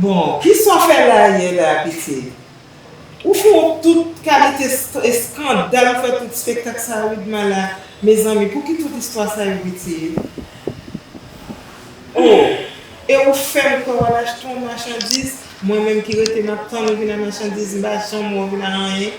Bon kisa w fè la yè la piti. Ou fè yon tout kalite eskandal ou fè tout spektak sa widma la mezanmi pouki tout istwa sa yo piti oo e ou fèm kwè wal achte yon machandiz mwen menm ki rete map tann ou vin a machandiz m pa janm wè w vin a anyen.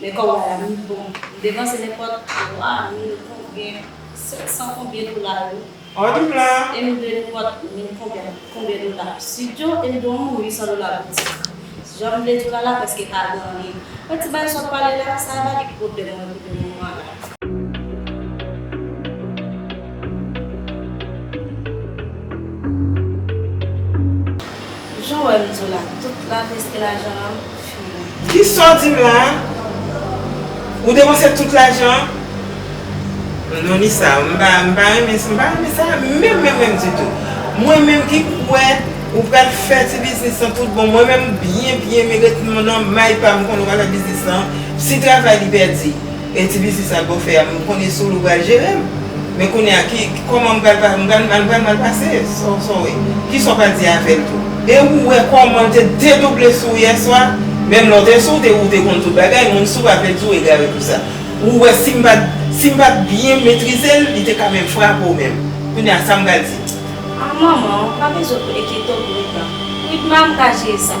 Men kò wa la wi bon. M depanse nenpòt 3 mil konbyen sèt san konbyen dola wi. E m dwe nenpòt mil konbyen konbyen dola. Studio e m dwe yon moun 800 dola boutik. Jan m vle di w la la prèske pa gen anyen. Mwen di bay sa w pale la sa ava ki pwoblèm mwen pou le moman la. Jan w wè m di w la, tout la preske lajan an fini. Ki sa w di m la? Ou depanse tout lajan an? Non Lisa, m pa renmen sa, m pa renmen sa menm menm menm ditou. Mwen menm ki kwè ou pral fè ti biznis lan tout bon, mwen menm byen byen m ret nan may pa m m konnen w pa fè biznis lan, si travay li pèdi. E ti biznis la boo fè a m konnen sou l ou pral jere l men kounye a ki kòman m pral pa m pral m pral mal pase sa w sa w wè ki sa w pral di avè l tou. E ou wè kòman l te dedouble sou w yèswa menm lè w te sou w te ou te konn tout bagay moun sou pa vle di w egare pou sa ou wè si m pat si m pat byen metrize l li te ka menm frape w menm kounye a sa m pral di. Ah manman pa bezwen pou enkyetew pou Ritma, Ritma m ka jere sa.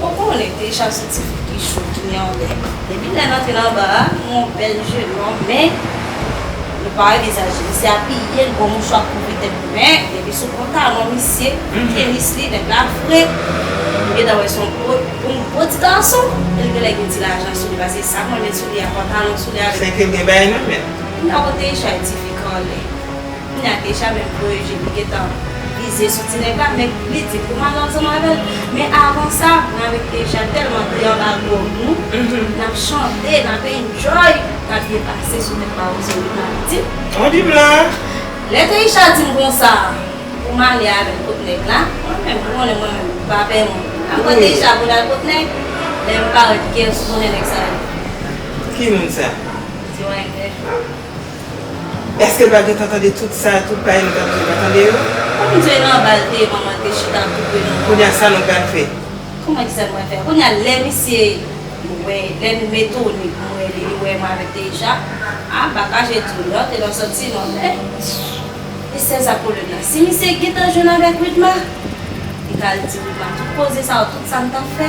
Ou konnen deja se ti fi ki cho ki gen anlè. Depi lè n antre nan bar a, nou yon bèl je long men nou pa anvizaje misye apiye l bon mouchwa kouvri tèt li men depi sou pantalon misye, tenis li, nèg la fre ou gentan wè se yon gwo ti gason e l genlè gen ti lajan sou li pase sa m renmen sou li a pantalon sou li avèk. Sèke l gen bagay nan men l. Ou nan yon dejay ti fi k anlè. Kounye a Keisha menm voye je li gentan vize sou ti nèg la men li di pou mal ansanm avèl men avan sa mwen avèk Keisha tèlman te anba gwòg nou nap chante nap enjoy nap byen pase sou nèt mawozo wi mari di Mwen di m la. Lè Keisha di m konsa pou m ale avèl kot nèg la mwen menm ou konnen mwen menm m pa pè moun map pran Keisha pou n al kot nèg lè m parèt Keyes konnen nèg sa yo Ki moun sa? Di w a envèj ou. Eske pa gentan tande tout sa tout pa yon tande yo pa tande yo. Kom Jay nan bal te manman te chita koupe nou manman. Kounya sa nou pral fè. Kouman ki sa nou pral fè. Kounya lè misye wè lè nou metone pou nou ede li wè mwen avek Deja ah baka je tou lè te nan soti non men Esther sa pwoblem la si misye gentan jwenn avek Widma li ka al di Widma tout koze sa yo tout sa m tap fè.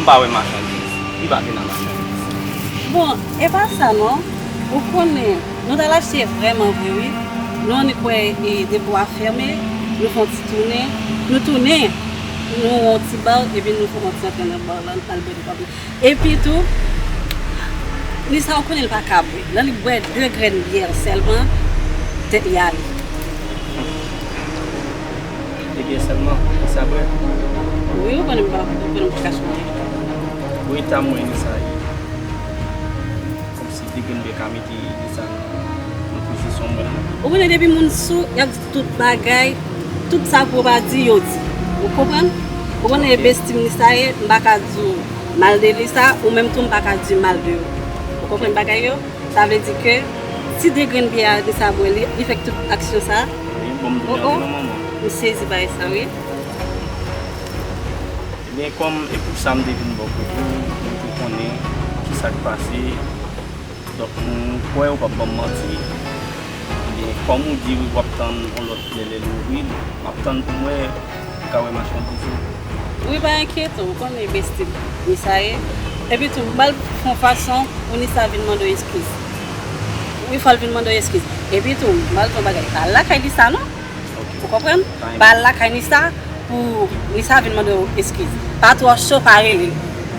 M pa wè machandiz. Li pa vin an machandiz. Bon, e pa sa non. Ou konnen, nou t al achte vrèman vre wi. Nou annik wè depo a fèmen, nou fè yon ti tounen. Nou tounen, nou wè yon ti bar epi nou fè yon ti antre nan bar lan, nou al bwè de twa bouteyi. Epi tou, Lisa ou konnen li pa ka bwè. Lè li bwè de grenn byè sèlman, tèt li ale. E byen selman e sa vre. Wi ou konnen m pa ou konnen m paka sonje. Pou eta mwen ni sa ye. Komsi depi m gen ka mete ni sa nan pozisyon mwen la. Ou konnen depi moun sou yap di tout bagay tout sa pou pa di yo di ou konprann. Ou konnen e besti m ni sa ye m paka di w mal de li sa ou menm tou m paka di mal de ou. Ou konprann bagay yo sa vle di ke ti degrenn bye a ni sa bwe li li fè tout aksyon sa. Oh oh m sezi bay sa wi. Ebyen kòm e pou sa m te vin bò kote w m te konnen ki sa k pase donk m kwè ou p ap ban m manti ebyen kòm ou di w ap tann yon lòt flè lè l ouvri l m ap tann pou m wè. Ou ka wè machann tou tou. Wi pa enkyete ou konnen besti m ni sa ye epi tou m bal fon fason pou ni sa vin mande w eskiz wi fòl vin mande w eskiz epi tou m bal di w yon bagay pa al lakay ni sa non ou konprann pa al lakay ni sa pou ni sa vin mande w eskiz pa twò cho pa rele l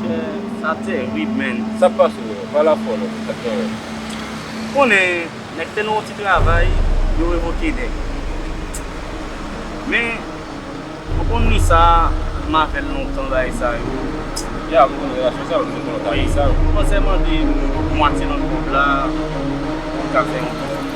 Chè sa terib menn. Sak pase yo pa la fol ok sak gen red. Ou konnen nèg fè nou yon ti travay yo revoke nèg men ou konn ni sa m avèl lontan bagay sa yo Ya m konnen relasyon sa yo m te konnen w ta di sa. Manzè mande mwatye nan kob la pou l ka fè yon ti.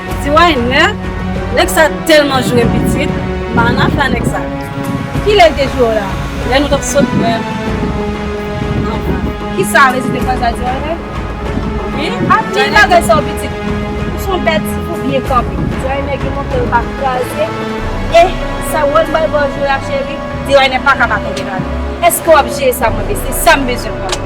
Ti wayne nèg sa tèlman jwe pitit manaf la nèg sa. Kilè li te jwe w la? Lè nou tap sot bwè anba. Kisa a rezide pran sa di a la? Wi anpil bagay sa w pitit. Ou son bèt ou byen kanpe. Ti wayne gen mantèl pa kraze eh sa wòl bal baw jwe la cheri. Ti wayne paka pa tonbe nan li. Eske wap jere sa mwen vle se sam bezwen kòm.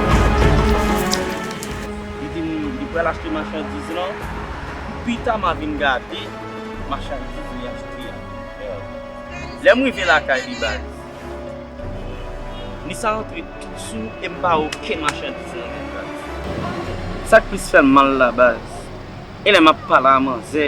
Li di m li pral achte machandiz lan, pita m a vin gade machandiz li achte a. Lè m rive lakay li baz, ni sa rantre tout sou e m pa wè okenn machandiz nan men l baz. Sa k plis fè m mal la baz, e lè m ap pale a manzè.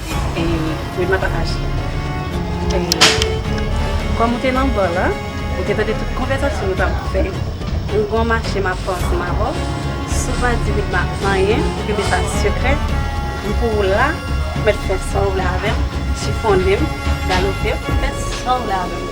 Wi map pataje. Kòm ou te nan bar la, ou te tande tout konvèzasyon nou tap fè. Ou gon mache map fè ansanm avè w. Si w pa di Widma anyen, ou kenbe sa sekrè, m pou ou la, ou mèt fè sa w vle avè m, chifonnen m, galope m, fè sa w vle avè m.